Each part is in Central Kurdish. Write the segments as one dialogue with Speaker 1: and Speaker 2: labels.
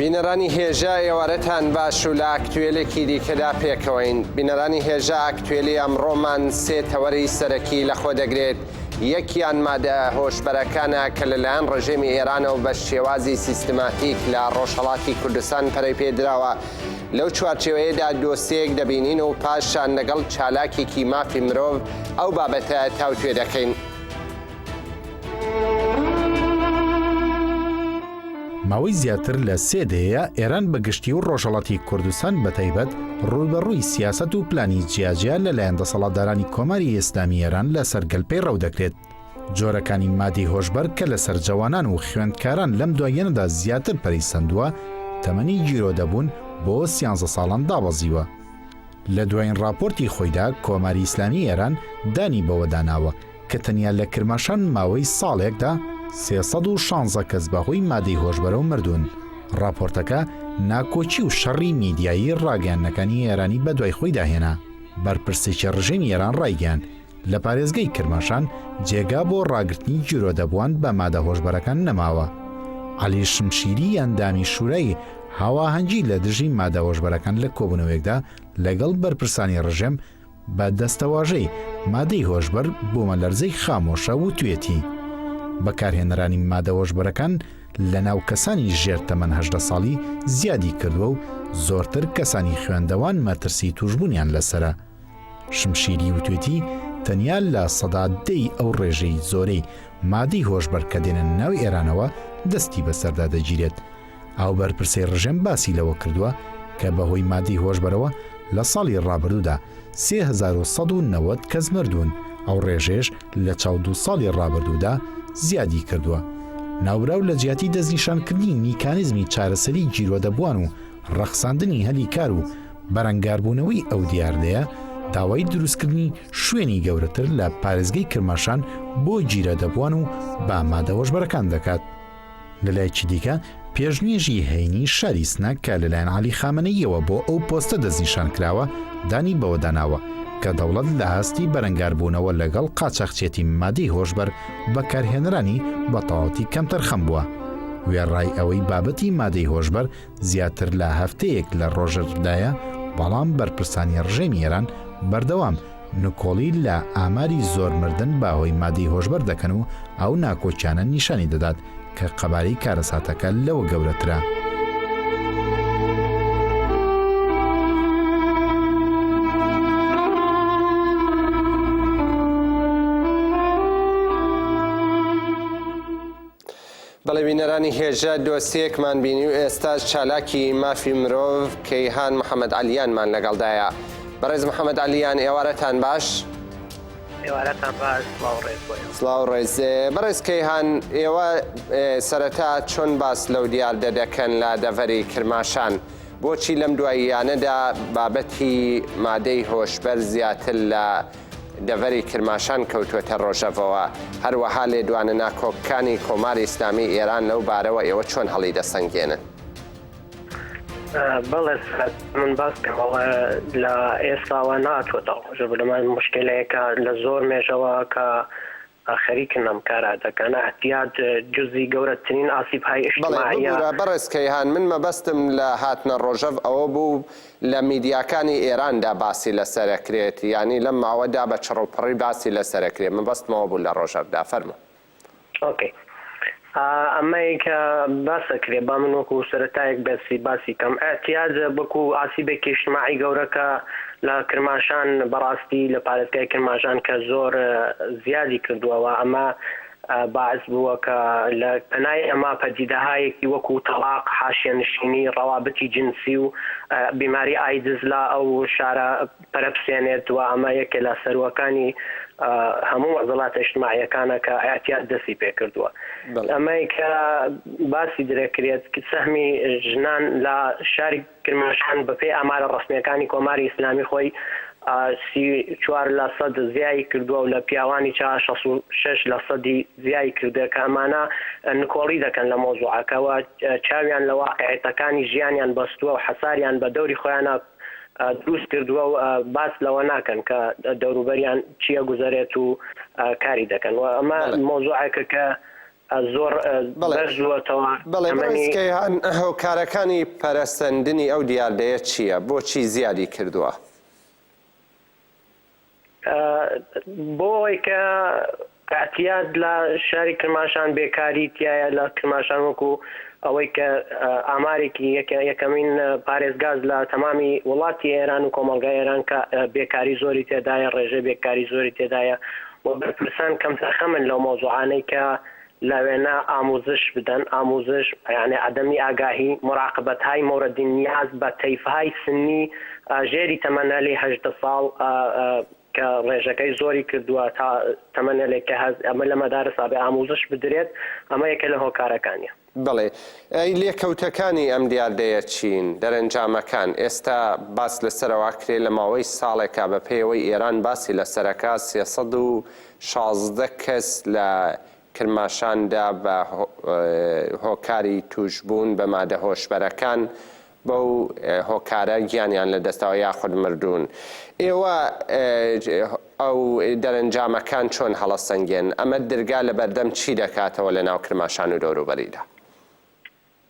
Speaker 1: بینەرانی هێژا ئێوارەتان باش و لە ئاکتوێلێکی دیکەدا پێکەوەین بینەرانی هێژا ئاکتوێلی ئەمڕۆمان سێ تەوەری سەرەکی لەخۆ دەگرێت یەکیان مادە هۆشبەرەکانە کە لەلایەن ڕژێمی ئێرانەوە بە شێوازی سیستماتیک لە ڕۆژهڵاتی کوردستان پەرەی پێدراوە لەو چوارچێوەیەدا دۆسێیەک دەبینین و پاشان لەگەڵ چالاکێکی مافی مرۆڤ ئەو بابەتە تاوتوێ دەکەین.
Speaker 2: ماوەی زیاتر لە سێ دەیەیە ئێران بە گشتی و ڕۆژهەڵاتی کوردستان بە تایبەت ڕووبەڕووی سیاسەت و پلانی جیاجیا لەلایەن دەسەڵاتدارانی کۆماری ئیسلامی ئێران لەسەر گەل پەیڕەو دەکرێت. جۆرەکانی مادی هۆشبەر کە لەسەر جوانان و خوێندکاران لەم دواییەنەدا زیاتر پەری سندووە تەمەنی گیرۆ دەبوون بۆ سیانزە ساڵان دابەزیوە لە دوایین راپۆرتی خۆیدا کۆماری ئیسلامی ئێران دانی بەوەداناوە کە تەنیا لە کرماشان ماوەی ساڵێکدا 316 کەس بەهۆی مادەی هۆشبەرەوە مردوون راپۆرتەکە ناکۆچی و شەڕی میدیایی راگەیانەکانی ئێرانی بەدوای خۆی داهێنا بەرپرسێکی ڕژێمی ئێران ڕایگەیان لە پارێزگەی کرماشان جێگا بۆ ڕاگررتنی جیرۆدەبووان بە مادە هۆشبەرەکان نەماوە. علی شمشیری ئەندامی شوورای هاواهەنگی لە دژی مادە هۆشبەرەکان لە کۆبوونەوەیەکدا لەگەڵ بەرپرسانی ڕژێم بە دەستەواژەی مادەی هۆشبەر بۆمە لەرزەی خامۆشە وتوێتی بەکارهێنەرانی مادە هۆشبەرەکان لە ناو کەسانی ژێر تەمەەن هەدە ساڵی زیادی کردووە و زۆرتر کەسانی خوێندەوان مەترسی توشببوونیان لەسرە شمشیری وتوێتی تەنیا لە سەدا دەی ئەو ڕێژەی زۆرەی مادی هۆشبەر کە دێنن ناو ئێرانەوە دەستی بەسەردا دەگیرێت ئەو بەرپرسی ڕژێم باسی لەوە کردووە کە بەهۆی مادی هۆشبەرەوە لە ساڵی ڕابردوودا 1990 کەس مردوون ئەو ڕێژێش لە چاو دو ساڵی ڕابردوودا زیادی کردووە ناوبراو لە جیاتی دەستنیشانکردنی میکانیزمی چارەسەری گیرۆدەبووان و ڕەخساندنی هەلی کار و بەرەنگاربوونەوەی ئەو دیاردەیە داوای دروستکردنی شوێنی گەورەتر لە پارێزگەی کرماشان بۆ گیرە دەبووان و با مادەوەشبەرەکان دەکات لەلایکی دیکە پێشنوێژی هەینی شاری سنە کە لەلایەن علی خامنەیەوە بۆ ئەو پۆستە دەستنیشان کراوە دانی بەوەداناوە کە دەوڵەت لە هەستی بەرەنگاربوونەوە لەگەڵ قاچاخچێتی مادەی هۆشبەر بەکارهێنرانی بەتەواتی کەمتەرخەم بووە وێڕای ئەوەی بابەتی مادەی هۆشبەر زیاتر لە هەفتەیەک لە ڕۆژەڤدایە بەڵام بەرپرسانی ڕژێمی ئێران بەردەوام نکۆڵی لە ئاماری زۆر مردن بە هۆی مادی هۆشبەر دەکەن و ئەو ناکۆکیانە نیشانی دەدات کە قەباری کارەساتەکە لەوە گەورەترە.
Speaker 1: بەڵێ بینەرانی هێژا دۆسیەیەکمان بینی و ئێستاش چالاکی مافی مرۆڤ کەیهان محەمەد عەلیانمان لەگەڵدایە بەڕێز محەمەد عەلیان ئێوارەتان باش
Speaker 3: سلااو
Speaker 1: ڕێز بەڕێز کەیهان ئێوە سەرەتا چۆن باس لەو دیاردە دەکەن لە دەڤەری کرماشان بۆچی لەم دواییانەدا بابەتی مادەی هۆشبەر زیاتر لە دەڤەری کرماشان کەوتووەتە ڕۆژەڤەوە، هەروەها لێدوانە ناکۆکەکانی کۆماری ئیسلامیی ئێران لەو بارەوە ئێوە چۆن هەڵیدەسەنگێنن؟ بەڵێ سەعد، من باس کە
Speaker 3: بەڵێ لە ئێستاوە ناتوەتە ڕۆژەڤە، لەمەڕ موشکیلەیەکە لە زۆر مێژەوە کە، ئا خەریکن ئەم کارە دەکەن. ئەتیاد جزی گەورە ترین ئاسیب های بەڵێ ئشتماعیە. ببورە بەڕێز کەیهان
Speaker 1: من مەبەستم لە هاتنە ڕۆژەڤ ئەوە بوو لە میدیاکانی ئێران دا باسی لە سەرە کرێت یانی لەم ماوە دا بە چڕوپڕی باسی لە سەرە کرێ مەبەستم ئەوە بوو لە ڕۆژەڤ دا فەرموو.
Speaker 3: ئۆکەی ئا ئەمەی کە باس ئەکرێ با من وەکوو سەرەتایەک بەسی باسی کەم ئەتیاجە بەکوو ئاسیبێکی ئیشتماعی گەورە کە لە کرماشان بە ڕاستی لە پارێزگای کرماشان کە زۆر زیادی کردووە و ئەمە باعس بووە کە لە پەنای ئەمە پەدیدەهایەکی وەکوو تەڵاق حاشیەنشینی ڕەوابتی جنسی و بیماری ئایدز لە ئەو شارە پەرەبسێنێت و ئەمە یەکێ لە سەروەکانی هەموو مەعزەڵاتە ئیجتماعییەکانە کە ئیعتیاد دەستی پێ کردووە. ئەمەی کە باسی درەکرێت سەهمی ژنان لە شاری کرماشان بە پێی ئامارە ڕەسمییەکانی کۆماری ئیسلامی خۆی سی و چوار لە سەد زیای کردووە و لە پیاوانیچە شەست و شەش لە سەدی زیای کردووە کە ئەمانە نکۆڵی دەکەن لە مەوزوعەکە و چاویان لە واقعیتەکانی ژیانیان بەستووە و حەساریان بە دەوری خۆیانە دروست کردووە و باس لەوە ناکەن کە دەوروبەریان چی ئەگوزەرێت و کاری دەکەن و ئەمە مەوزوعێکە کە زۆر بەرزووەتەوە. بەڵێ بەڕێز
Speaker 1: کەیهان هۆکارەکانی پەرەسەندنی ئەو دیاردەیە چییە؟ بۆچی زیادی کردووە؟
Speaker 3: بۆ ئەوەی کە ئەتیاد لە شاری کرماشان بێکاری تایە لە کرماشان وەکو ئەوەی کە ئامارێکی یەکە یەکەمین پارێزگاز لە تەمامی وڵاتی ئێران و کۆمەلگای ئێران کە بێکاری زۆری تێدایە ڕێژە بێکاری زۆری تێدایە و بەرپرسان کەم تەرخەمن لەو مۆزوعانەی کە لەوێنە ئاموزش بدەن، ئاموزش یانی عدمی آگاهی، مراقبت های مورد نیاز بە تەیف های سنی ژێری تەمەنەلی هەژدە ساڵ کە ڕێژەکەی زۆری کردووە تا تەمەنەلێک کە هەز ئەمە لە مەدارس ئابێ ئاموزش بدرێت ئەمە یەکە لە هۆکارەکانیە. بەڵێ
Speaker 1: ئەی لێکەوتەکانی ئەم دیاردەیە چین؟ دەرەنجامەکان ئێستا باس لەسەرەوە ئەکرێ لە ماوەی ساڵێکا بە پێیەوەی ئێران باسی لەسەرەکا سێ سەد و شازدە کەس لە کرماشاندا بە هۆکاری تووشبوون بە مادە هۆشبەرەکان بەو هۆکارە گیانیان لەدەستەوە یاخود مردوون. ئێوە ئەو دەرەنجامەکان چۆن هەڵەسەنگێن؟ ئەمە درگا لەبەردەم چی دەکاتەوە لەناو کرماشان و دەوروبەریدا؟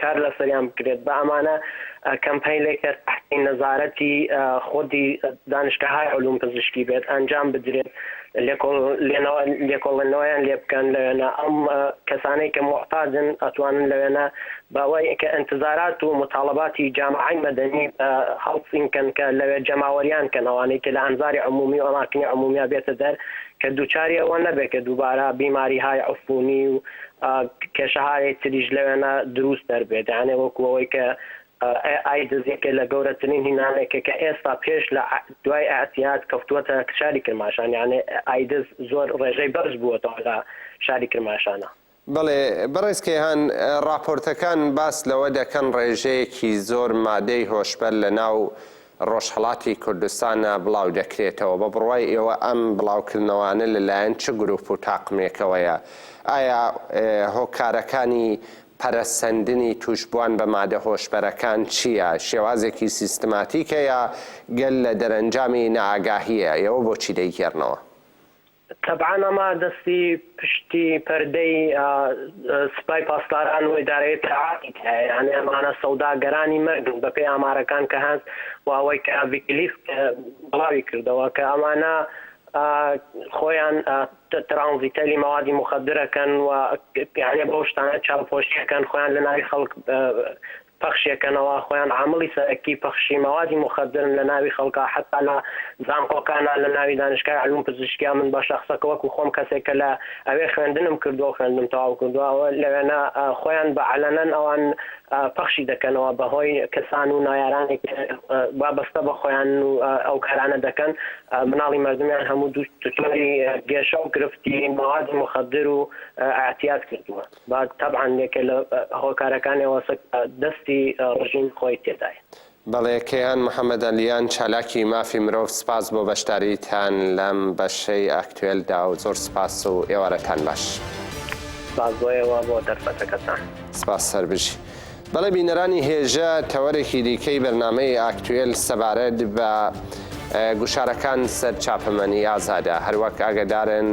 Speaker 3: کار لەسەریان بکرێت بە ئەمانە کەمپەیلێک کە تەحتی نەزارەتی خودی دانشگەهای علوم پزیشکی بێت ئەنجام بدرێت لێکۆڵ لێنەوە لێکۆڵێنەوەیان لێ بکەن لەوێنە ئەم کەسانەی کە محتاجن ئەتوانن لەوێنە بەوەی کە انتظارات و مطالباتی جامعەی مەدەنی هەڵسین کەن کە لەوێ جەماوەریان کەن ئەوانەی کە لە ئەنزاری عمومی و ئەماکنی عمومیا بێتە دەر کە دووچاری ئەوە نەبێت کە دووبارە بیماریهای عفونی و کێشەهایەی تریش لەوێنا دروست دەربێت یانێ وەکو ئەوەی کە AI دزیکە لە گەورەترین هینانێکە کە ئێستا پێش لە دوای ئەعتیاد کەوتووەتە شاری کرماشان یانێ ئایدز زۆر ڕێژەی بەرز بووەتەوە لە شاری کرماشانە. بەڵێ
Speaker 1: بەڕێز کەیهان، ڕاپۆرتەکان باس لەوە دەکەن ڕێژەیەکی زۆر مادەی هۆشبەر لەناو ڕۆژهەڵاتی کوردستان ە بڵاو دەکرێتەوە، بە بڕوای ئێوە ئەم بڵاوکردنەوانە لە لایەن چ گروپ و تاقمێکەوەیە؟ ئایا هۆکارەکانی پەرەسەندنی توشبوان بە مادە هۆشبەرەکان چیە؟ شێوازێکی سیستماتیکە یا گەل لە دەرەنجامی نائاگاهیە؟ ئێوە بۆچی دەیگێڕنەوە؟
Speaker 3: تەبعەن ئەمە دەستی پشتی پەردەی سپای پاسداران و ئیدارەی ئیتلاعاتی تایە، یانی ئەمانە سەوداگەرانی مەرگن بەپێی ئامارەکان کە هەن و ئەوەی کە ویکیلیکس بڵاوی کردەوە کە ئەمانە خۆیان ترانزیتەری مەوادی موخەدرەکەن و یانی بەو شتانە چاوپۆشی ئەکەن خۆیان لەناوی خەڵک پەخشیەکەنەوە خۆیان عامڵی سەرەکی پەخشی مەوادی موخەدرن لە ناوی خەڵکا حەتا لە زانقۆکانا لە ناوی دانشکای علوم پزیشکیا من بە شەخسەکە وەکو خۆم کەسێک کە لە ئەوێ خوێندنم کردوە و خوێندنم تەواو کردوە ئەوە لەوێنە خۆیان بە علەنەن ئەوان پەخشی دەکەنەوە بە هۆی کەسان و نایارانێک وابەستە بە خۆیان و ئەو کارانە دەکەن مناڵی مەردمیان هەموو دوو تۆری گێشە و گرفتی مەوادی موخەدر و ئەعتیاد کردوە. بەڵێ تەبعەن یەکێ لە هۆکارەکانی ئەوەسە
Speaker 1: کە دەستی ڕژیم خۆی تێدایە. بەڵێ کەیان محەمەد ئەلیان چالاکی مافی مرۆڤ سپاس بۆ بەشداریتان لەم بەشەی ئاکتوێلدا و زۆر سپاس و ئێوارەتان باش. سپاس
Speaker 3: بۆ ئێوە بۆ دەرفەتەکەتان. سپاس سەربژی.
Speaker 1: بەڵێ بینەرانی هێژا تەوەرێکی دیکەی بەرنامەی ئاکتوێل سەبارەت بە گوشارەکان سەر چاپەمەنی ئازادە هەروەک ئاگەدارن،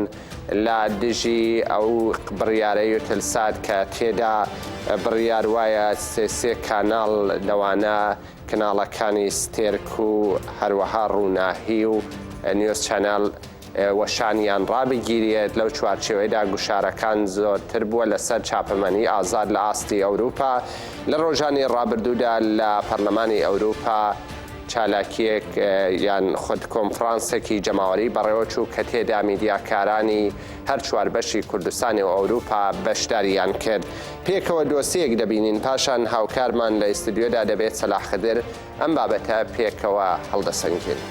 Speaker 1: لە دژی ئەو بڕیارە یوتلسات کە تێدا بڕیار وایە سێ سێ کاناڵ لەوانە کناڵەکانی ستێرک و هەروەها ڕووناهی و نیۆز چەنەل وەشانیان ڕابگیرێت لەو چوارچێوەیدا گوشارەکان زۆرتر بووە لەسەر چاپەمەنی ئازاد لە ئاستی ئەوروپا لە ڕۆژانی ڕابردوودا لە پەرلەمانی ئەوروپا چالاکییەک یان خود کۆنفرانسێکی جەماوەریی بەڕێوەچوو کە تێدا میدیاکارانی هەر چوار بەشی کوردستانی و ئەوروپا بەشدارییان کرد. پێکەوە دۆسێیەک دەبینین، پاشان هاوکارمان لە ئیستدیۆدا دەبێت سەلاح خدر، ئەم بابەتە پێکەوە هەڵدەسەنگێنین.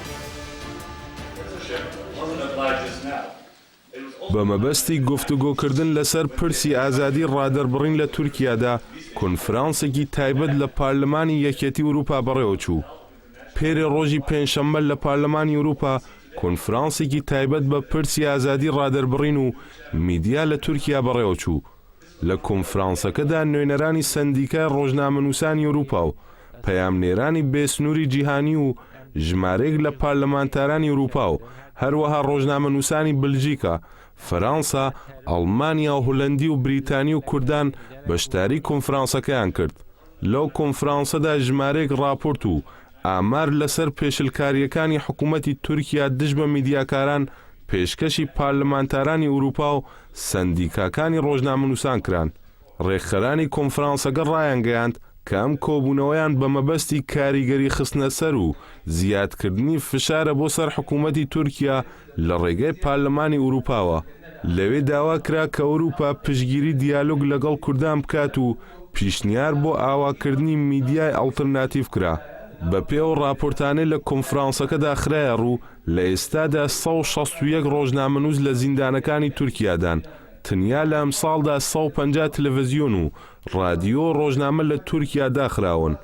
Speaker 4: بە مەبەستی گفتوگۆکردن لەسەر پرسی ئازادی ڕادەربڕین لە تورکیادا کۆنفرانسێکی تایبەت لە پارلمانی یەکێتی ئورووپا بەڕێوەچوو. پێرێ ڕۆژی پێنجشەممە لە پارلمانی ئورووپا کۆنفرانسێکی تایبەت بە پرسی ئازادی ڕادەربڕین و میدیا لە تورکیا بەڕێوەچوو. لە کۆنفرانسەکەدا نوێنەرانی سەندیکای ڕۆژنامەنووسانی ئەوروپا و پەیامنێرانی بێ سنووری جیهانی و ژمارەیەک لە پارلمانتارانی ئەوروپا و هەروەها ڕۆژنامەنووسانی بلژیکا، فەرانسا، ئەڵمانیا، هولەندی و بریتانی و کوردان بەشداری کۆنفرانسەکەیان کرد. لەو کۆنفرانسەدا ژمارەیەک ڕاپۆرت و ئامار لەسەر پێشلکارییەکانی حکوومەتی تورکیا دژ بە میدیاکاران پێشکەشی پارلمانتارانی ئورووپا و سەندیکاکانی ڕۆژنامەنووسان کران. ڕێکخەرانی کۆنفرانسەکە ڕایانگەیاند کە ئەم کۆبوونەوەیان بە مەبەستی کاریگەری خستنەسەر و زیادکردنی فشارە بۆ سەر حکوومەتی تورکیا لە ڕێگەی پارلمانی ئورووپاوە لەوێ داوا کرا کە ئورووپا پشتگیری دیالۆگ لەگەڵ کوردان بکات و پیشنیار بۆ ئاوا کردنی میدیای ئەڵترناتیڤ کرا. بە پێی ئەو ڕاپۆرتانەی لە کۆنفرانسەکەدا خرایە ڕوو، لە ئێستادا سەد و شەست و یەک ڕۆژنامەنووس لە زیندانەکانی تورکیادان، تەنیا لە ئەمساڵدا سەد و پەنجا تلەڤزیۆن و ڕادیۆ و ڕۆژنامە لە تورکیا داخراون.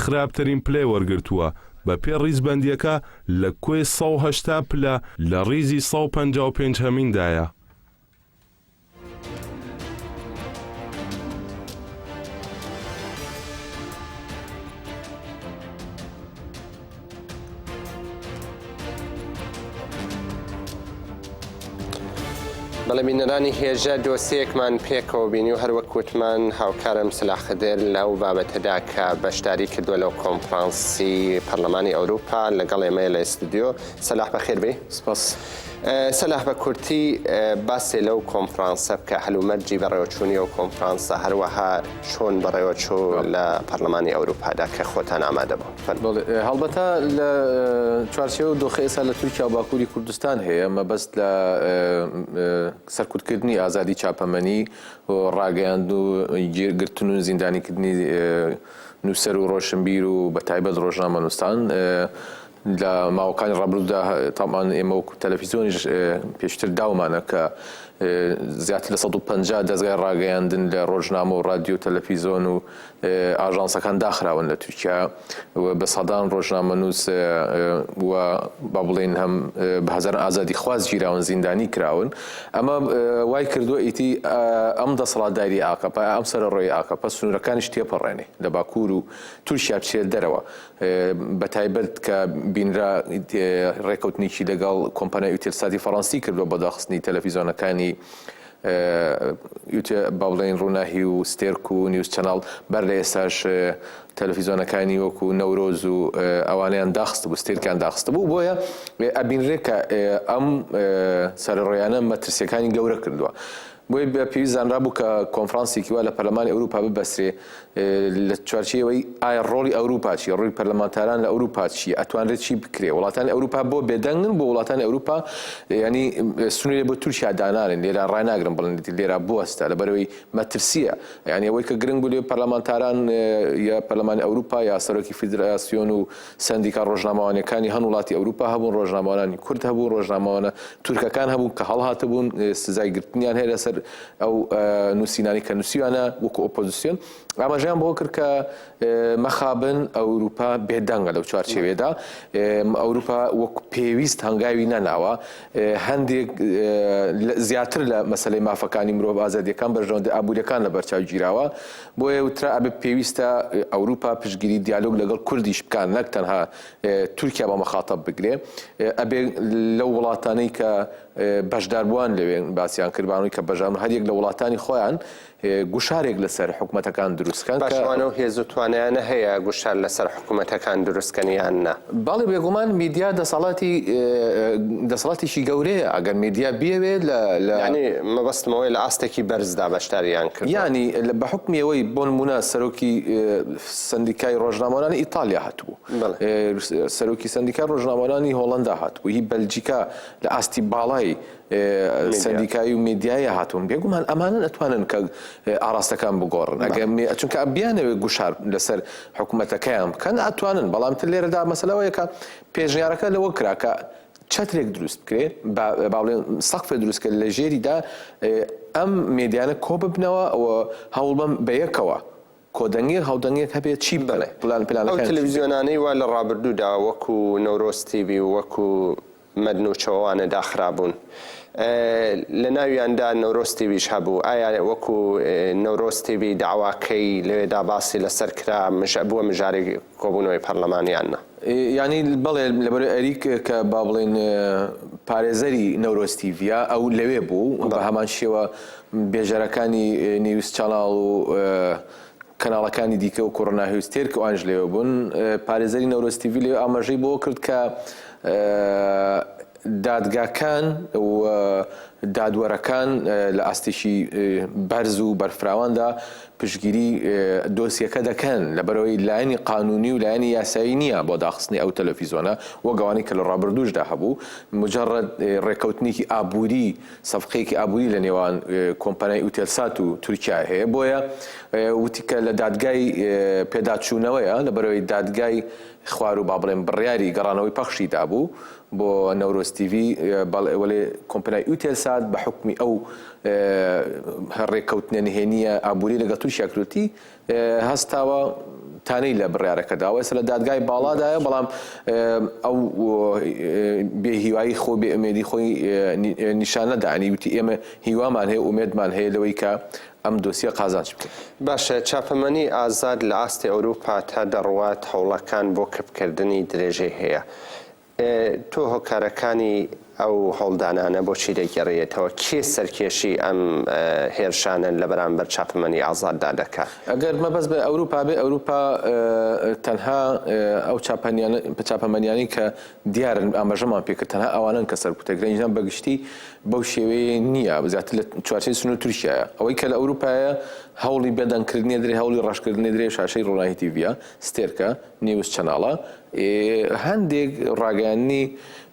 Speaker 4: خراپترین پلەی وەرگرتووە، بە پێ ڕیزبەندیەکە لە کۆی سەد و هەشتا پلە لە ڕیزی سەد و پەنجا و پێنج هەمیندایە.
Speaker 1: بەڵێ بینەرانی هێژە دۆسیەکمان پێکەوە بینی و هەروەک وتمان هاوکارم سلاخدر لەو بابەتەدا کە بەشداری کردووە لەو کۆنفرانسی پەرلەمانی ئەوروپا لەگەڵ ئێمە لە ئستودیۆ سەلاح بەخێربێ سپاس. سەلاح بە کورتی باسێ لەو کۆنفرانسە بکە هەلومەرجی بەڕێوەچوونی و کۆنفرانسە هەروەها چۆن بەڕێوەچوو لە پەرلەمانی ئەوروپادا کە خۆتان ئامادەبوون. بەڵێ، هەڵبەتە
Speaker 5: لە چوارچێوە و دۆخی ئێستا لە تورکیا و باکووری کوردستان هەیە، مەبەست لە سەرکوتکردنی ئازادی چاپەمەنی و ڕاگەیاند و گرتن و زیندانیکردنی نووسەر و ڕۆشنبیر و بەتایبەت ڕۆژنامەنووسان لە ماوەکانی ڕابردوودا تابان ئێمە وەکو تەلەفیزیۆنیش پێشتر داومانە کە زیاتر لە سەد و پەنجا دەزگای ڕاگەیاندن لە ڕۆژنامە و ڕادیۆ و تەلەفیزۆن و ئاژانسەکان داخراون لە تورکیا و بە سەدان ڕۆژنامەنووس و با بڵێین هەم بە هەزاران ئازادی خواز گیراون زیندانی کراون ئەمە وای کردووە ئیتی ئەم دەسەڵاتداری ئاکەپە ئەم سەرەڕۆی ئاکەپە سنوورەکانیش تێپەڕێنێ لە باکوور و تورکیا بچێت دەرەوە بە تایبەت کە بینرا ڕێکەوتنێکی لەگەڵ کۆمپانیای ئوتێلساتی فەڕەنسی کردووە بە داخستنی تەلەفیزۆنەکانی ئیتر با بڵێین ڕووناهی و ستێرک و نیوز چەناڵ بەر لە ئێستاش تەلەفیزۆنەکانی وەکو نەورۆز و ئەوانیان داخست بوو ستێرکیان داخست بوو بۆیە ئەبینرێ کە ئەم سەرڕۆیانە مەترسیەکانی گەورە کردووە بۆی بە پێویست زانرا بوو کە کۆنفرانسێکی وا لە پەرلەمانی ئەوروپا ببەسرێ لە چوارچێوەی ئایا ڕۆڵی ئەوروپا چیە ڕووی پەرلەمانتاران لە ئەوروپا چیە ئەتوانرێت چی بکرێ وڵاتانی ئەوروپا بۆ بێدەنگن بۆ وڵاتانی ئەوروپا ینی سنوورێ بۆ تورکیا دانانن لێرا ڕناگرن بڵێن لێرا بوەستە لە بەرەوەی مەترسیە یعنی ئەوەی کە گرنگ بوو لێ پەرلەمانتاران یا پەرلەمانی ئەوروپا یا سەرۆکی فیدراسیۆن و سەندیکا ڕۆژنامەوانیەکانی هەن وڵاتی ئەوروپا هەبوون ڕۆژنامەوانانی کورد هەبوو ڕۆژنامەوانە تورکەکان هەبوون کە هەڵهاتبوون سزای گرتنیان هەیە لەسەر ئەو نووسینانی کە نووسیوانە وەکو ئۆپۆزیسیۆن ئاماژیان بۆ کرد کە مەخابن ئەوروپا بێدەنگە لەو چوارچێوێدا ئەوروپا وەک پێویست هەنگاوی نەناوە هەندێک زیاتر لە مەسلەی مافەکانی مرۆڤ ئازادیەکان بەرژەوەندی ئابووریەکان لە بەرچاو گیراوە بۆیە وترا ئەبێ پێویستە ئەوروپا پشتگیری دیالۆگ لەگەڵ کوردیش بکات نەک تەنها تورکیا بە مەخاتەب بگرێ ئەبێ لەو وڵاتانەی کە بەشداربووان لەوێ باسیان کردبانەوەی کە بەژان هەریەک لە وڵاتانی خۆیان گوشارێک لەسەر حکوومەتەکان دروستکەن باشوانە و هێز و
Speaker 1: توانیانە هەیە گوشار لەسەر حکوومەتەکان دروستکەنیان نا. بەڵێ بێگومان
Speaker 5: میدیا دەسەڵاتی دەسەڵاتێکی گەورەیە ئەگەر میدیا بیەوێ لە لە یانی
Speaker 1: مەبەستمەوەی لە ئاستێکی بەرزدا بەشداریان کرد یانی بە حکمی
Speaker 5: ئەوەی بۆ نمونە سەرۆکی سندیکای ڕۆژنامەوانانی ئیتالیا هاتبوو سەرۆکی سندیکای ڕۆژنامەوانانی هۆڵندا هاتبوو هی بەلجیکا لە ئاستی باڵای سەندیکایی و میدیایی هاتوون بێگومان ئەمانن ئەتوانن کە ئاراستەکان بگۆڕن ئەگەر چونکە بیانەوێت گوشار لەسەر حکوومەتەکەیان بکەن ئەتوانن بەڵام تر لێرەدا مەسلەوەیەکە پێشنیارەکە لەوە کراکە چەترێک دروست بکرێ باڵێن سەقفێ دروستکە لە ژێریدا ئەم مێدیانە کۆ ببنەوە ئەوە هەوڵبم بە یەکەوە کۆدەنگێک هاودەنگێک هەبێت چی بەڵێ پلان پلانەکان چی بێت. ئەو تلویزیۆنانەی
Speaker 1: وا لە ڕابردوودا وەکو نەورۆز تیڤی و وەکو مەدن و چۆوانە داخرابوون لە ناویاندا نەورۆز تیڤیش هەبوو ئایا وەکو نەورۆز تیڤی داواکەی لەوێدا باسی لەسەر کرا بووە مژارێک کۆبوونەوەی پەرلەمان یان نا؟ یانی
Speaker 5: بەڵێ لەبەر ئەریک کە با بڵێن پارێزەری نەورۆز تیڤە ئەو لەوێ بوو بە هەمان شێوە بێژەرەکانی نێویست چاڵاڵ و کەناڵەکانی دیکە و کۆڕۆنا هوستێر کە ئەوانش لێوە بوون پارێزەری نەورۆز تیڤی لێ ئاماژەی بۆ کرد کە دادگاکان و دادوەرەکان لە ئاستێکی بەرز و بەرفراواندا پشتگیری دۆسیەکە دەکەن لەبەرەوەی لایەنی قانونی و لایەنی یاسایی نییە بۆ داخستنی ئەو تەلەفیزۆنە وەک ئەوانەی کە لە ڕابردووشدا هەبوو مجەڕەد ڕێککەوتنێکی ئابووری سەفقەیەکی ئابووری لە نێوان کۆمپانیای ئوتێلسات و تورکیای هەیە بۆیە وتی کە لە دادگای پێداچوونەوەیە لەبەرەوەی دادگای خواروو با بڵێن بڕیاری گەڕانەوەی پەخشی دابوو بۆ نەورۆز تیڤی بەڵێ وەلێ کۆمپنای ئوتێل سات بە حوکمی ئەو هەڕێکەوتنە نهێنیە ئابووری لەگە تورکیا کروتی هەستاوە تانەی لە بڕارەکە داوە سە لە دادگای باڵادایە بەڵام ئەو بێ هیوایی خۆ بێ ئەمێدی خۆی نیشانەدانی وتی ئێمە هیوامان هەیە ئومێدمان هەیە لەوەی کە ئەم دۆسیە قازانج بکە باشە چاپەمەنی
Speaker 1: ئازاد لە ئاستی ئەوروپا تا دەڕوات هەوڵەکان بۆ کپکردنی درێژەی هەیە تۆ هۆکارەکانی ئەو هەوڵدانانە بۆچی دەگێڕییەتەوە؟ کێ سەرکێشی ئەم هێرشانەن لە بەرامبەر چاپەمەنی ئازاددا دەکا؟ گەر مەبەست بە
Speaker 5: ئەوروپا بێ، ئەوروپا تەنها ئەو چاپەمەنیانەی کە دیارن ئاماژەمان پێ کرد تەنها ئەوانەن کە سەرکوتە گرن، ئینجا بە گشتی بەو شێوەیە نییە، زیاتر لە چوارچێوەی سنوور تورکیایە. ئەوەی کە لە ئەوروپایە هەوڵی بێدەنگکردنی ئەدرێ، هەوڵی ڕەشکردنی ئەدرێ، شاشەی ڕۆناهی تیڤییە، ستێرکە، نیوز چەناڵە ئێ هەندێک ڕاگەیاندنی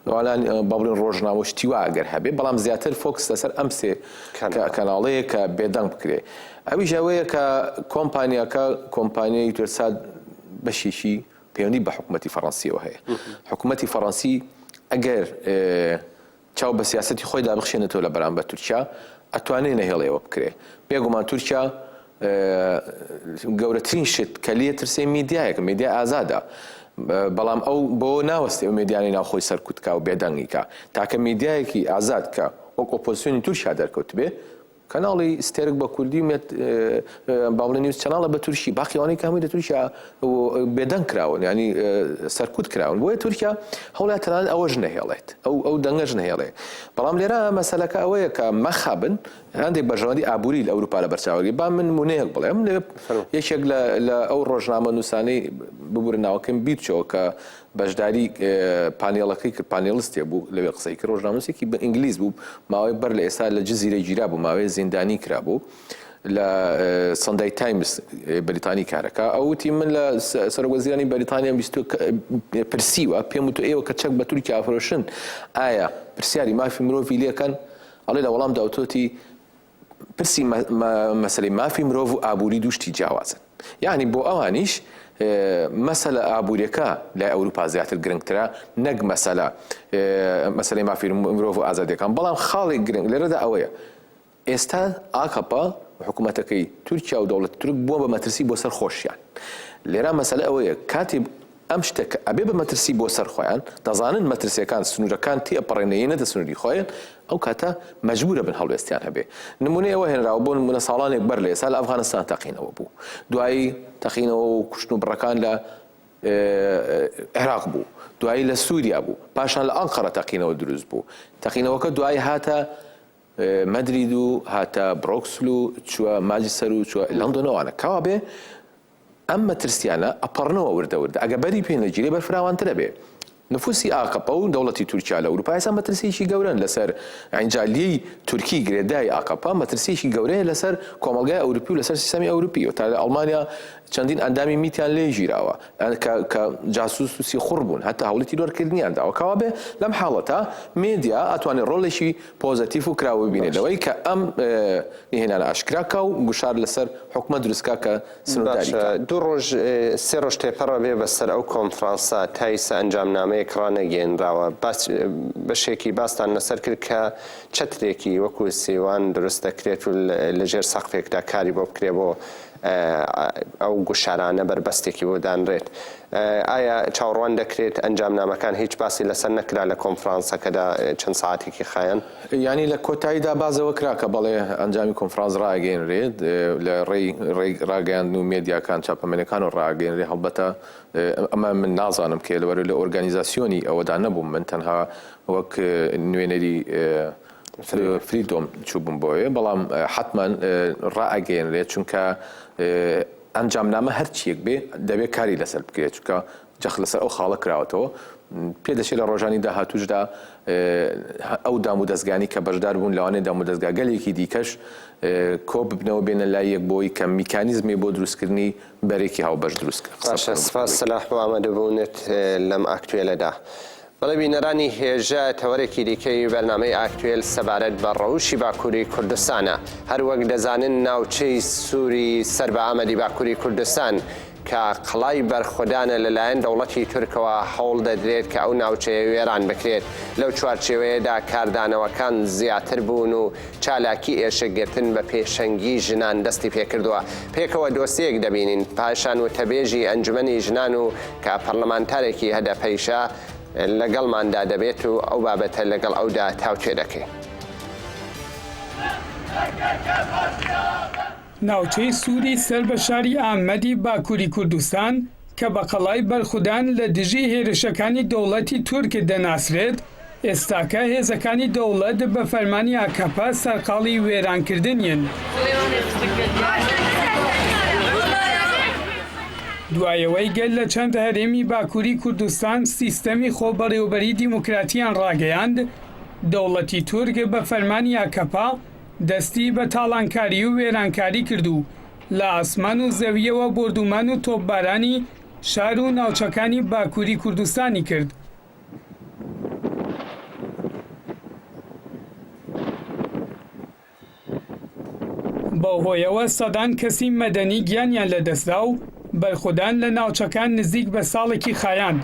Speaker 5: نواالان بابلین ڕۆژنامە شتیوا ئەگەر هەبێ بەڵام زیاتر فۆکس لەسەر ئەم سێ کەناڵەیە کە بێدەنگ بکرێ ئەوی ژەوەیە کە کۆمپانیاکە کۆمپانیای یوترسات بەشێکی پەیوەندی بە حکوومەتتی فەڕەنسیەوە هەیە حکوومەتتی فەڕەنسی ئەگەر چاو بە سیاسەتی خۆیدا بخشێنێتەوە لە بەرامبەر تورکیا، ئەتوانرێ نەهێڵێ ئەوە بکرێ. بێگومان تورکیا گەورەترین شت کە لێ ترسێ میدیایەکە، میدیای ئازادە. بەڵام ئەو بۆ ناوەستێ ئەو میدیانەی ناوخۆی سەرکوت کا و بێدەنگی کا. تاکە میدیایەکی ئازاد کە وەک ئۆپۆزسیۆنی تورکیا دەرکەوتبێ، کەناڵی ستێرک بە کوردی و مێت بابڵی نیوز چەناڵە بە تورکی باقی ئەوانەی کە هەمووی لە تورکیا بێدەنگ کراون یعنی سەرکوت کراون بۆیە تورکیا هەوڵا تەنان ئەوەش نەهێڵێت ئەو ئەو دەنگەش نەهێڵێ بەڵام لێرە مەسەلەکە ئەوەیە کە مەخابن هەندێک بەرژەوەندی ئابووری لە ئەوروپا لە بەرچاوەگەی با من مونەیەک بڵێم یەکێک لە ئەو ڕۆژنامە نووسانی ببورە ناوەکەم بیرچەوە کە بەشداری پانێڵەکەی کرد، پانێڵستێ بوو لەوێ قسەی کرد، ڕۆژنامەنووسێکی بە ئینگلیز بوو، ماوەی بەر لە ئێستا لە جزیرە گیرابوو، ماوەیە زیندانی کرابوو، لە سەندەی تایمز بەریتانی کارەکە، ئەو وتی من لە سەرۆک وەزیرانی بەریتانیام بیستووە کە پرسیوە، پێم وتووە ئێوە کە چەک بە تورکیا ئەفرۆشن ئایا پرسیاری مافی مرۆڤی لێکەن؟ ئەڵێ لە وەڵامدا وتووەتی پرسی مەسەلەی مافی مرۆڤ و ئابووری دوو شتی جیاوازن یانی بۆ ئەوانیش مەسەلە ئابووریەکە لای ئەوروپا زیاتر گرنگترە نەک مەسەلە مەسەلەی مافی مرۆڤ و ئازادەکان بەڵام خاڵێک گرنگ لەرەدا ئەوەیە ئێستا ئاکەپە حکوومەتەکەی تورکیا و دەوڵەت تورک بووە بە مەترسی بۆ سەر خۆشیان لێرا مەسەلە ئەوەیە کاتی ئەم شتە کە ئەبێ بە مەترسی بۆ سەر خۆیان دەزانن مەترسیەکان سنورەکان تێئەپەڕێن یەینەتە سنوری خۆێن ئەو کاتە مەجبورە بن هەڵوێستیان هەبێ نمونەی ئەوە هێنراوە بۆ نمونە ساڵانێک بەر لە ئێسا لە ئەفغانستان تەقینەوە بوو دوایی تەقینەوە و کوشتن و بڕەکان لە عێراق بوو دوایی لە سووریا بوو پاشان لە ئەنقەرە تەقینەوە دروست بوو تەقینەوەکە دوایی هاتە مەدرید و هاتە برۆکسل و چووە ماجسەر و چووە لەندۆنەوانە کاوا بێ ئەم مەترسیانە ئەپەڕنەوە وردە وردە ئەگە بەری پێ نەگیرێ بەر فراوانتر ئەبێ نفوسی ئاکەپە و دەوڵەتی تورکیا لە ئوروپا ئێستا مەترسیەکی گەورەن لەسەر عینجالیەی تورکی گرێدای ئاکەپە مەترسیەکی گەورەیە لەسەر کۆمەڵگای ئەوروپی و لەسەر سیستەمی ئەوروپی و تا لە ئەڵمانیا چەندین ئەندامی میتیان لێ گیراوە کە کە جاسوس و سیخوڕ بوون هەتا هەوڵی تیرۆرکردنیان داوە کەوابێ لەم حاڵەتە مێدیا ئەتوانێ ڕۆڵێکی پۆزەتیف و کراو ببینێ لەوەی کە ئەم نهێنانە ئاشکرا کا و گوشار لەسەر حکومەت دروست کا کە سنوورداری کا. دوو ڕۆژ
Speaker 1: سێ ڕۆژ تێپەڕە بێ بەسەر ئەو کۆنفرانسە تا ئیستا ئەنجامنامەیەک ڕانەگەیەنراوە باس بەشێکی باستان لەسەر کرد کە چەترێکی وەکوو سیوان دروست دەکرێت و لە ژێر سەقفێکدا کاری بۆ بکرێ بۆ ئەو گوشارانە بەربەستێکی بۆ دانرێت ئایا چاوەڕوان دەکرێت ئەنجامنامەکان هیچ باسی لەسەر نەکرا لە کۆنفرانسەکەدا چەند سەعاتێکی خایاند؟ یانی لە کۆتاییدا
Speaker 5: باس لەوە کرا کە بەڵێ ئەنجامی کۆنفرانس ڕاگەیەنرێت لە ڕێی ڕاگەیاندن و مێدیاکان چاپەمەنیەکانەوە ڕاگەیەنرێت هەڵبەتە ئەمە من نازانم کێ لەبەرەوەی لە ئۆرگانیزاسیۆنی ئەوەدا نەبووم من تەنها وەک نوێنەری فریدۆم چووبووم بۆیە بەڵام حەتمەن ڕائەگەیەنرێت چونکە ئەنجامنامە هەرچییەک بێ دەبێ کاری لەسەر بکرێ، چونکە جەخت لەسەر ئەو خاڵە کراوەتەوە. پێ دەچێ لە ڕۆژانی داهاتووشدا ئەو دام و دەزگانەی کە بەشدار بوون لەوانەیە دام و دەزگاگەلێکی دیکەش کۆ ببنەوە بێنە لای یەک بۆی کە میکانیزمێ بۆ دروستکردنی بەرێکی هاوبەش دروست بکە. باشە سپاس سەلاح
Speaker 1: بۆ ئامادەبوونت لەم ئاکتوێلەدا. بەڵێ بینەرانی هێژا تەوەرێکی دیکەی بەرنامەی ئاکتوێل سەبارەت بە ڕەوشی باکووری کوردستانە. هەر وەک دەزانن ناوچەی سووری سەر بە ئامەدی باکووری کوردستان کە قەڵای بەرخودانە لە لایەن دەوڵەتی تورکەوە هەوڵ دەدرێت کە ئەو ناوچەیە وێران بکرێت. لەو چوارچێوەیەدا کاردانەوەکان زیاتر بوون و چالاکی ئێشک گرتن بە پێشەنگی ژنان دەستی پێکردووە، پێکەوە دۆسیەیەک دەبینین، پاشان وتەبێژی ئەنجومەنی ژنان و کە پەرلەمانتارێکی هەدەپەیشە لەگەڵماندا دەبێت و ئەو بابەتە لەگەڵ ئەودا تاوتوێ دەکەین.
Speaker 6: ناوچەی سووری سەر بە شاری ئامەدی باکووری کوردستان کە بە قەڵای بەرخودان لە دژی هێرشەکانی دەوڵەتی تورک دەناسرێت، ئێستاکە هێزەکانی دەوڵەت بە فەرمانی ئاکەپە سەرقاڵی وێرانکردنیین. دوای ئەوەی گەل لە چەند هەرێمی باکووری کوردستان سیستەمی خۆبەڕێوەبەریی دیموکراتییان ڕاگەیاند، دەوڵەتی تورک بە فەرمانی ئاکەپە، دەستی بە تاڵانکاری و وێرانکاری کرد و لە ئاسمان و زەوییەوە بۆردوومان و تۆپبارانی شار و ناوچەکانی باکووری کوردستانی کرد. بەو هۆیەوە سەدان کەسی مەدەنی گیانیان لەدەستدا و بەرخودان لە ناوچەکان نزیک بە ساڵێکی خایاند.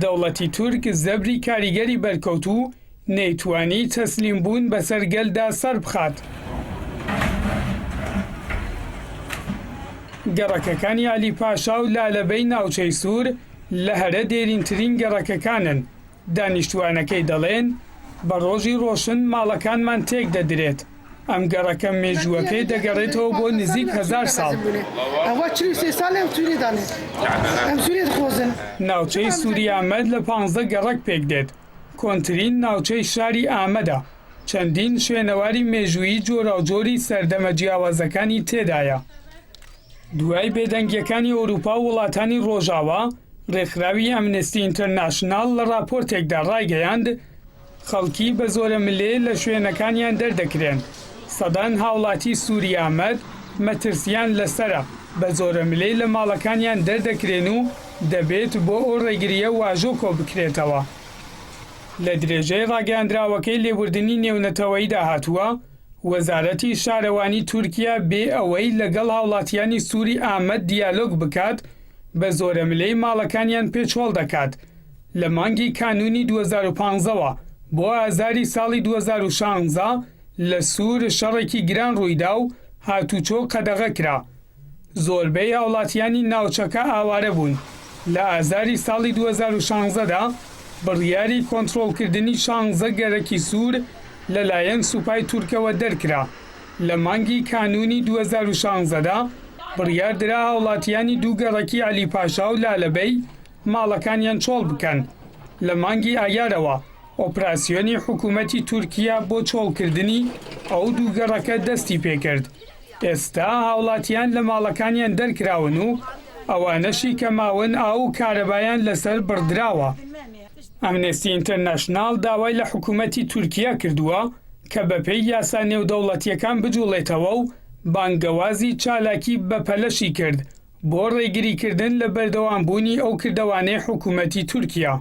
Speaker 6: دەوڵەتی تورک زەبری کاریگەری بەرکەوتوو، نەیتوانی تەسلیم بوون بەسەر گەلدا سەربخات. گەڕەکەکانی عەلی پاشا و لالەبەی ناوچەی سوور لە هەرە دێرینترین گەڕەکەکانن، دانیشتووانەکەی دەڵێن، بە ڕۆژی ڕۆشن ماڵەکانمان تێکدەدرێت، ئەم گەڕەکە مێژووەکەی دەگەڕێتەوە بۆ نزیک هەزار ساڵ. ناوچەی سووریامەد لە پانزە گەڕەک پێکدێت، کۆنترین ناوچەی شاری ئامەدە، چەندین شوێنەواری مێژوویی جۆراوجۆری سەردەمە جیاوازەکانی تێدایە. دوای بێدەنگییەکانی ئەوروپا و وڵاتانی ڕۆژاوا، ڕێکخراوی ئەمنستی ئینتەرناشناڵ لە ڕاپۆرتێکدا ڕایگەیاند، خەڵکی بە زۆرەملێ لە شوێنەکانیان دەردەکرێن، سەدان هاوڵاتی سووری ئامەد مەترسییان لەسەرە، بە زۆرەملێ لە ماڵەکانیان دەردەکرێن و دەبێت بۆ ئەو ڕێگرییە واژۆ کۆبکرێتەوە. لە درێژەی ڕاگەیاندراوەکەی لێبوردنی نێونەتەوەییدا هاتووە، وەزارەتی شارەوانی تورکیا بێ ئەوەی لەگەڵ هاوڵاتیانی سوری ئامەد دیالۆگ بکات بە زۆرەملێی ماڵەکانیان پێچۆڵ دەکات لە مانگی کانوونی دوو هەزار و پازدە وە بۆ ئازاری ساڵی دوو هەزار و شازدە لە سور شەڕێکی گران ڕوویدا و هاتوچۆ قەدەغەکرا. زۆربەی هاوڵاتیانی ناوچەکە ئاوارە بوون، لە ئازاری ساڵی دوو هەزار و شانزە دا بڕیاری کۆنترۆڵکردنی شانزە گەرەکی سوور لەلایەن سوپای تورکەوە دەرکرا، لە مانگی کانوونی دوو هەزار و شانزە دا بڕیار درا هاوڵاتیانی دوو گەڕەکی عەلی پاشا و لالەبەی ماڵەکانیان چۆڵ بکەن، لە مانگی ئایارەوە ئۆپراسیۆنی حکوومەتی تورکیە بۆ چۆڵکردنی ئەو دوو گەڕەکە دەستی پێکرد. ئێستا هاوڵاتیان لە ماڵەکانیان دەرکراون و ئەوانەشی کە ماون ئاو و کارەبایان لەسەر بڕدراوە. ئەمنستی ئینتەرناشناڵ داوای لە حکومەتی تورکیا کردووە کە بەپێی یاسا نێودەوڵەتییەکان بجوڵێتەوە و بانگەوازی چالاکی بەپەلەشی کرد بۆ ڕێگریکردن لە بەردەوامبوونی ئەو کردەوانەی حکومەتی تورکیا.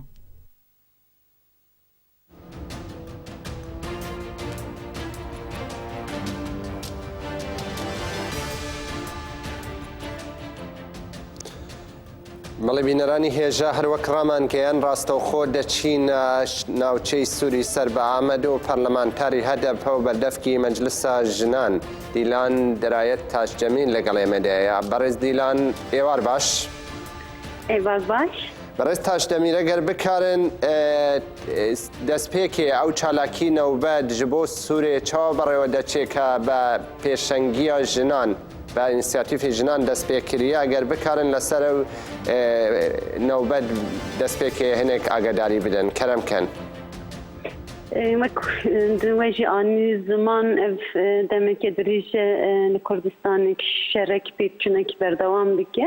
Speaker 1: بەڵێ بینەرانی هێژا هەروەک ڕامانگەیان ڕاستەوخۆ دەچین ناوچەی سووری سەر بە ئامەد و پەرلەمانتاری هەدەپە و بەردەفکی مەجلسا ژنان دیلان دەرایەت تاشجەمین لەگەڵ ئێمەدەیە بەڕێز دیلان ئێوار باش. ئەی
Speaker 7: باز باش بەڕێز تاش دەمیرە
Speaker 1: گەر بکارن دەستپێکێ ئەو چالاکی نەوبەت ji بۆ سوورێ چاوە بەڕێوە دەچێ کە بە پێشەنگیە ژنان بە ئینسیاتیفی ژنان دەستپێکریە گەر بکارن لەسەر و نەوبەت دەستپێکێ هەنێک ئاگداری بدەن کەرم کەن. وەژی ئانی
Speaker 7: زمان دەمێکێ دریژە لە کوردستانێک شەرەک پێکچونێکی بەردەوام بکە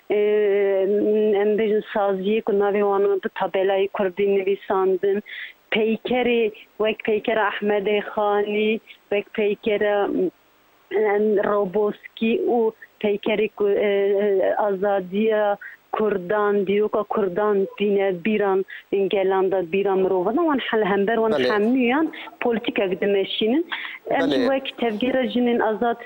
Speaker 7: بێژن سازییەک و ناوی وانا دو تابێلای کوردی نویساندن، پەیکەرێ وەک پەیکەرە ئەحمەدێ خانی، وەک پەیکەرە ڕۆبۆسکی و پەیکەری ئازادییە کوردان، دیرۆکە کوردان دینە بیران گەلاندا بیران مرۆڤدا وان حەل هەمبەر وان حەموویان پۆلتیکەک دمەشینن ئەم وەک تەڤگەرە ژنێن ئازاد.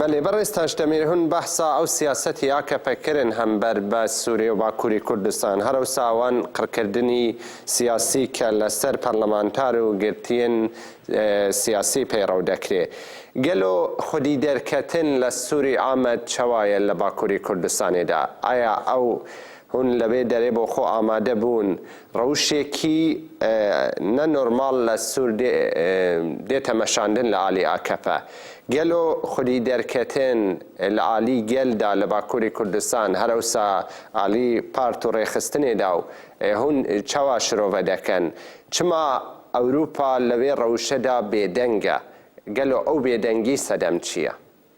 Speaker 7: بەلی بەڕێز
Speaker 1: تاش دەمیر هون بەحسا ئەو سیاسەتی ئاکەپە کرن هەم بەر بە سورێ و باکوری کوردستان هەر ئەوسا وان قڕکردنی سیاسی کە لە سەر پەرلەمانتار و گرتیێن سیاسی پەیڕەو دەکرێ گەلۆ خودی دەرکەتن لە سوری ئامەد چەوایە لە باکوری کوردستانێ دا ئایا ئەو هون لەبێ دەرێ بۆ خۆ ئامادە بوون ڕەوشێکی نە نۆرماڵ لە سور دێ تە مەشاندن لە ئالی ئاکەپە. گەلۆ خودی دەر کەتن لە ئالی گەل دا لە باکوری کوردستان هەر ئەوسا ئالی پارت و ڕێخستنێ دا و هون چەوا شرۆڤە دە کەن. چما ئەوروپا لە وێ ڕەوشە دا بێ دەنگە. گەلۆ ئەو بێ دەنگی سەدەم چیە؟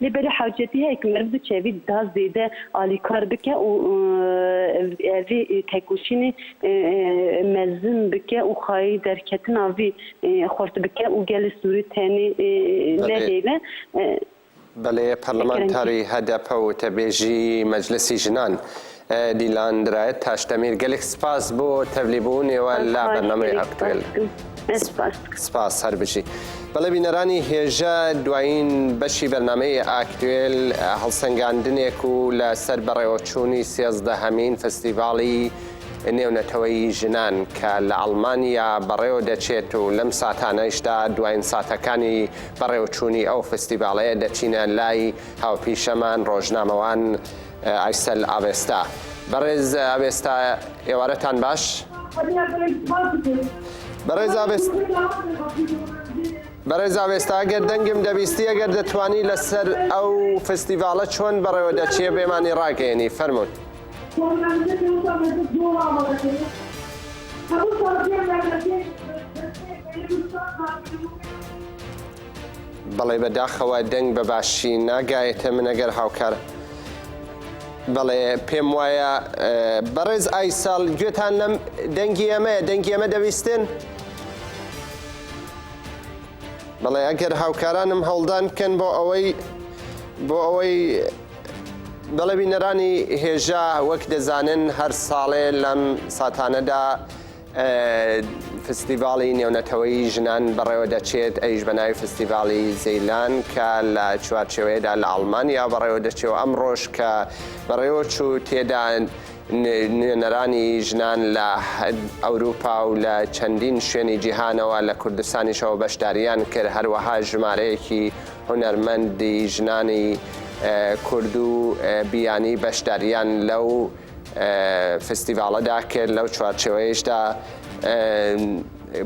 Speaker 7: لێ بەرێ حاجیەتی هەیە ک مەرد بچێ ڤی دا زێدە ئالیکار بکە و ڤی تێکووشینێ مەزن بکە و خایەی دەرکەتنا ڤی خورت بکە و گەل سووری تەێنێ نەێلە.
Speaker 1: بەلێ پەرلەمانتاری هەدەپە و وتەبێژی مەجلسی ژنان دیلان درایت تاشدەمیر گەلێک سپاس بۆ تەبلی بوونێوە لە بەرنامەی ئەکتوێل سپاس هەر بژی بەڵێ بینەرانی هێژە دوایین بەشی بەرنمەی ئاکتوێل هەڵسەنگاندنێک و لەسەر بەڕێوەچوونی سێزدە هەمین فستیڤاڵی نێونەتەوەی ژنان کە لە ئەڵمانیا بەڕێوە دەچێت و لەم ساتانەشدا دوایین ساتەکانی بەڕێوەچوونی ئەو فستیڤاڵەیە دەچینە لای هاوپیشەمان ڕۆژنامەوان ئایسەل ئاڤێستا بەڕێز ئاڤێستا ئێوارەتان باش. بەڕێز ئاڤێستا بەڕێز ئاوێستا گەر دەنگم دەبیستی ئەگەر دەتوانی لەسەر ئەو فستیڤالە چۆن بەڕێوە دەچێ بێمانی ڕاگەێنی فەرمونون. بەڵێ بەداخەوە دەنگ بە باشی ناگایێتە من ئەگەر هاوکار بەڵێ پێم وایە بەڕێز ئای ساڵ گوێتان لەم دەنگی ئەمەیە دەنگی ئەمە دەویستن بەڵێ ئەگەر هاوکارانم هەڵدان بکەن بۆ ئەوەی بۆ ئەوەی بەڵێ بینەرانی هێژا وەک دەزانن هەر ساڵێ لەم ساتانەدا فستیڤاڵی نێونەتەوەیی ژنان بەڕێوە دەچێت ئەویش بە ناوی فستیڤاڵی زیلان کە لە چوارچێوەیەدا لە ئەڵمانیا بەڕێوە دەچێت و ئەمڕۆش کە بەڕێوە چوو تێدا نوێنەرانی ژنان لە ئەوروپا و لە چەندین شوێنی جیهانەوە لە کوردستانیشەوە بەشداریان کرد هەروەها ژمارەیەکی هونەرمەندی ژنانی کورد و بیانی بەشداریان لەو فستیڤاڵەدا کرد لەو چوارچێوەیشدا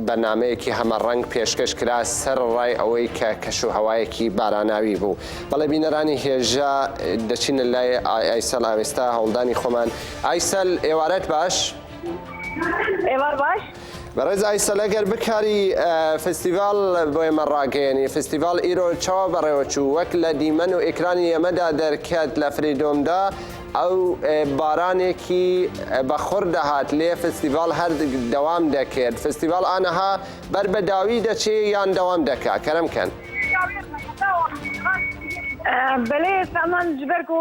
Speaker 1: بەنامەیەکی هەمەڕەنگ پێشکەش کرا سەر ڕای ئەوەی کە کەش و هەوایەکی باراناوی بوو بەڵێ بینەرانی هێژا دەچینە لای ئایسەل ئاوێستا هەوڵدانی خۆمان ئایسەل ئێوارەت باش
Speaker 8: ئێوار باش بەڕێز ئایسەل
Speaker 1: ئەگەر بکاری فستیڤاڵ بۆ ئێمە ڕاگەیەنی فستیڤاڵ ئیرۆ چاوە بەڕێوەچوو وەک لە دیمەن و ئێکرانی ئێمەدا دەرکەت لە فریدۆمدا ئەو بارانێکی بەخڕ دەهات لێ فستیڤاڵ هەر دەوام دەکرد فستیڤاڵ ئانەها بەر بە داوی دەچێ یان دەوام دەکا کەرم کەن.
Speaker 8: بەلێ سامان جبەرگ و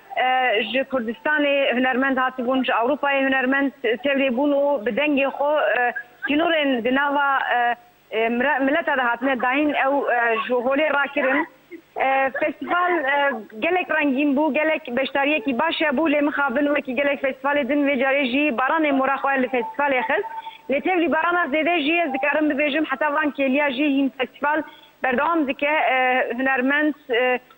Speaker 8: ژ کوردستانێ هونەرمەند هاتبوون، ژ ئەوروپاێ هونەرمەند تێێ بوون و بە دەنگێ خۆ تینوورێن دە ناوا ملەتا دا هاتنە داین ئەو ژ هۆلێ راکرن. فێستیڤال گەلێک رەنگین بوو، گەلێک بەشدارییەکی باشێ بوو، لێ مخابن وەکی گەلێک فێستیڤالێ دن وێ جارێ ژی بارانێ مۆرا خوەێ لە فێستیڤالێ خست. لێ تێێ بارانا زێدێ ژی ئێز دکارم ببێژم هەتا ڤان کێلیا ژی هین فێستیڤال بەردەوام دکە هونەرمەند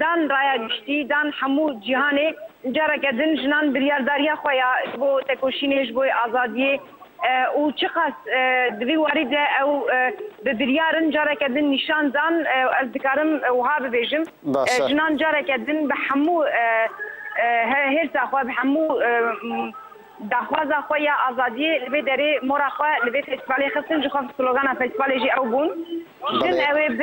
Speaker 8: دان ڕایا گشتی، دان حەموو جیهانێ، ئنجا ڕەگەدن ژنان بریارداریە خوەیا بۆ تەکۆشینێش بۆی ئازادیێ ئوو چقاس دڤی واریدە ئەو ب بریارن جارەکەدن نیشان دان و ئەز دکارم وها ببێژم ژنان جارەکەدن بە حەموو هێرسا خوە ب حەموو داخوازا خوەیا ئازادیێ ل بێ دەێ مۆرا خوە ل بێ فێستڤالێ خستن ژخۆ سلۆگانا فێستڤالێ ژێ ئەو بوون ژن ئەوێ ب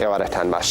Speaker 1: ئێوارەتان باش.